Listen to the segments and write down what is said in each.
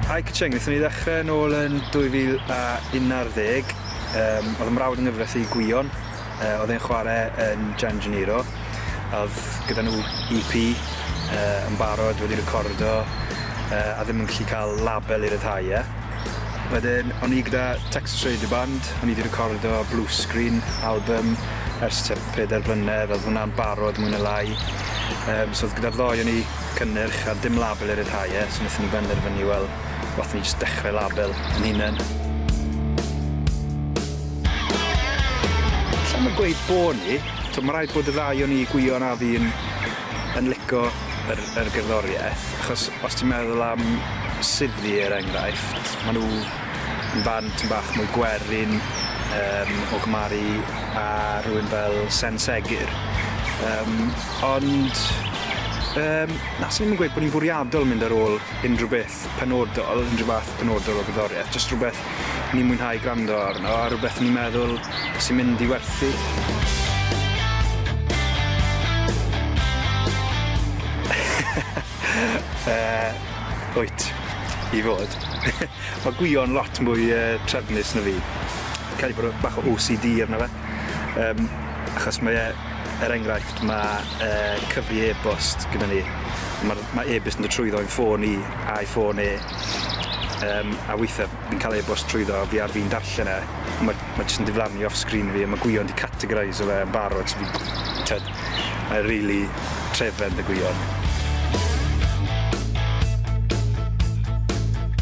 Hi Kacheng, wnaethon ni ddechrau yn ôl yn 2011. Um, oedd y mrawd yng nghyfres i Gwion, uh, oedd e'n chwarae yn Gian Gennaro. Oedd gyda nhw EP uh, yn barod wedi recordo uh, a ddim yn gallu cael label i ryddhau e. Wedyn, o'n i gyda Texas Radio Band, o'n i wedi recordo Blue Screen album ers Pedair blynedd o'dd hwnna'n barod mwy ne' lai yym so o'dd gyda'r ddou o ni cynnyrch a dim label i ryddhau e so nethon ni benderfynu wel wath ni jyst dechre label 'yn hunen. Allai'm yn gweud bo' ni, t'o' ma' raid bod y ddau o ni Gwion a fi yn yn lico yr yr gerddorieth achos os ti'n meddwl am Suddie er enghraifft ma' nw barn tym bach mwy gwerin yym o gymharu a rhywun fel Sen Segur yym ond yym na swn i'm yn gweud bod ni'n fwriadol mynd ar ôl unrhyw beth penodol unrhyw fath penodol o gerddorieth jyst rhywbeth ni'n mwynhau grando arno a rwbeth ni'n meddwl sy'n mynd i werthu. uh, wyt i fod. Mae gwion lot mwy uh, trefnus na fi. Cael ei bod bach o OCD arno fe. Um, achos mae e, er enghraifft, mae uh, cyfri e-bost gyda ni. Mae ma e-bost yn dod trwyddo i'n ffôn i a'i ffôn e. Um, a weithiau Fi'n cael e-bost trwyddo fi ar fin darllen e, ma' ma' jyst yn diflannu off screen fi a ma' gwyon 'di categoreiso fe yn barod so fi t'od mae e rili trefedd 'da gwyon.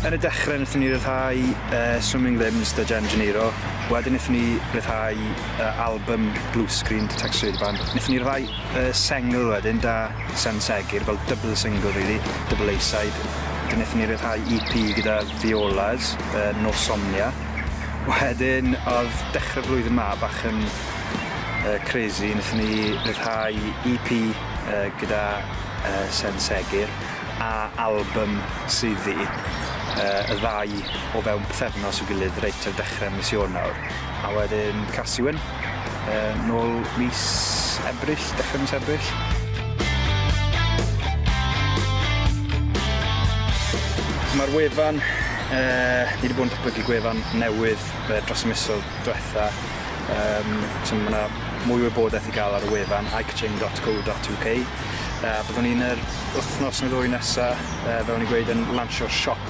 Yn y dechre nethon ni ryddhau yy Swimming Limbs 'da Jen Geniro, wedyn nethon ni ryddhau yy albym Blue Screen 'da Tex Rideman. Nethon ni ryddhau yy sengl wedyn 'da Sen Segur fel double single rili, double A-side. 'Dyn nethon ni ryddhau EP gyda Violas yn Nos Somnia. Wedyn odd dechre'r flwyddyn 'ma bach yn yy crazy nethon ni ryddhau Ee Pee yy gyda yy Sen Segur a albym swyddi yy y ddau o fewn pythefnos i'w gilydd reit ar dechre mis Ionawr. A wedyn Carsiwen, yy nôl mis Ebrill, dechre mis Ebrill. Mae'r wefan, uh, ni wedi bod yn datblygu gwefan newydd uh, dros y misoedd diwetha. Um, so mae yna mwy wybodaeth i gael ar y wefan, ikechain.co.uk. Uh, byddwn ni'n yr wythnos neu ddwy nesaf, uh, fel ni'n gweud, yn lansio'r siop